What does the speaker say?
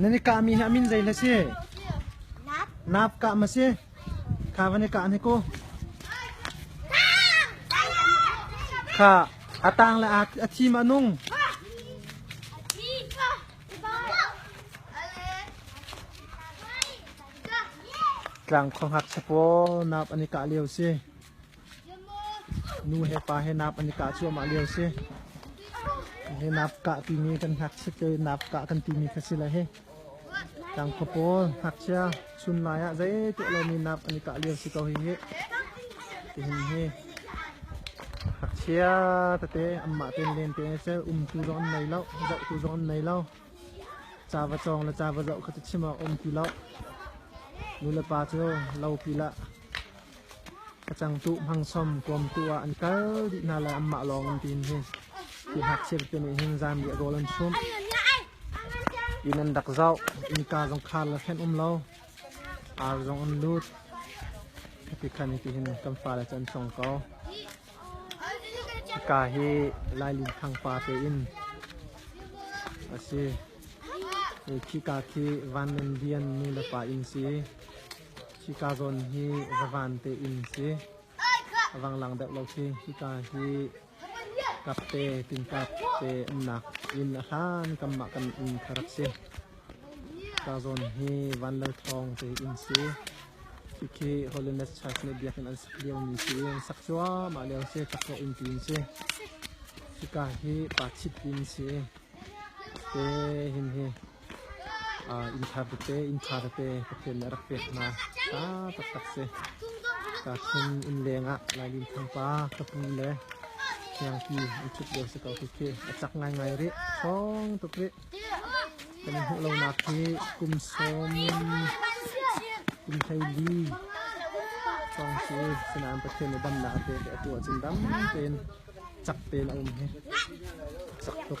Nan i kahmi hi a min zei hlah si? Nap kah ma si? Kha van i kah ne ku? Kha a tang le a thi ma nung? Tlang kho ngak sapo nap an i kah lio si. Nu he pa he naap an i kah cuahmah lio a si. Hi naap kah timi kan ngakchiat le naap kah kan timi kha si le hi tang khua pawl ngakchia chun lai ah zeitiah lomi naap an i kah lio si ko hi hi tihin hi ngakchia tete anmah ten len te cu umtu zong an nei lo zohtu zong an nei lo ca va cawng le ca va zoh kha cu chim awk a um ti lo nu le pa cu lo pil ah Ka cangtuh hmangsawm kawmtu ah an kal dih hna lai anmah lawng an tiin hi ti hngakchia tete nih hin zanriah rawl an chum inn an rak zoh innka zong khar le hrenh um lo ar zong an lut ti khan hi tihin kan fale cu an song ko ka hi lailin khang pa te in a si khi ka khi van nan lian nu le pa in si Hika zawn hi zavan tein si. A vang lang deuh lo khi hika hi kapte tinkap te umnak inn a hlan kanmah kan inn kha rak si. Hika zawn hi van lal thawng tein si. Hikhi Holiness Church nih biakinn an sak liomi si. Sak cuahmah lio si, takzawh in tiin si. Hika hi pa chit in si. Te hin hi Innthar tete, innkhar tete Pathian nih a rak pek hna. Hla taktak si. Tahkhun inn lengah Lailinthang pa, ka pu le hniangpi an ṭhut lio si ko khi khi. A cak ngaingai rih. Ṭhawng tuk rih. Kan i hmuh lonak hi kum sawm, kum hleili hrawng si. Sinain Pathian nih damnak a pek i a tu ahcun dam tein cak tein a um hi. Cak tuk.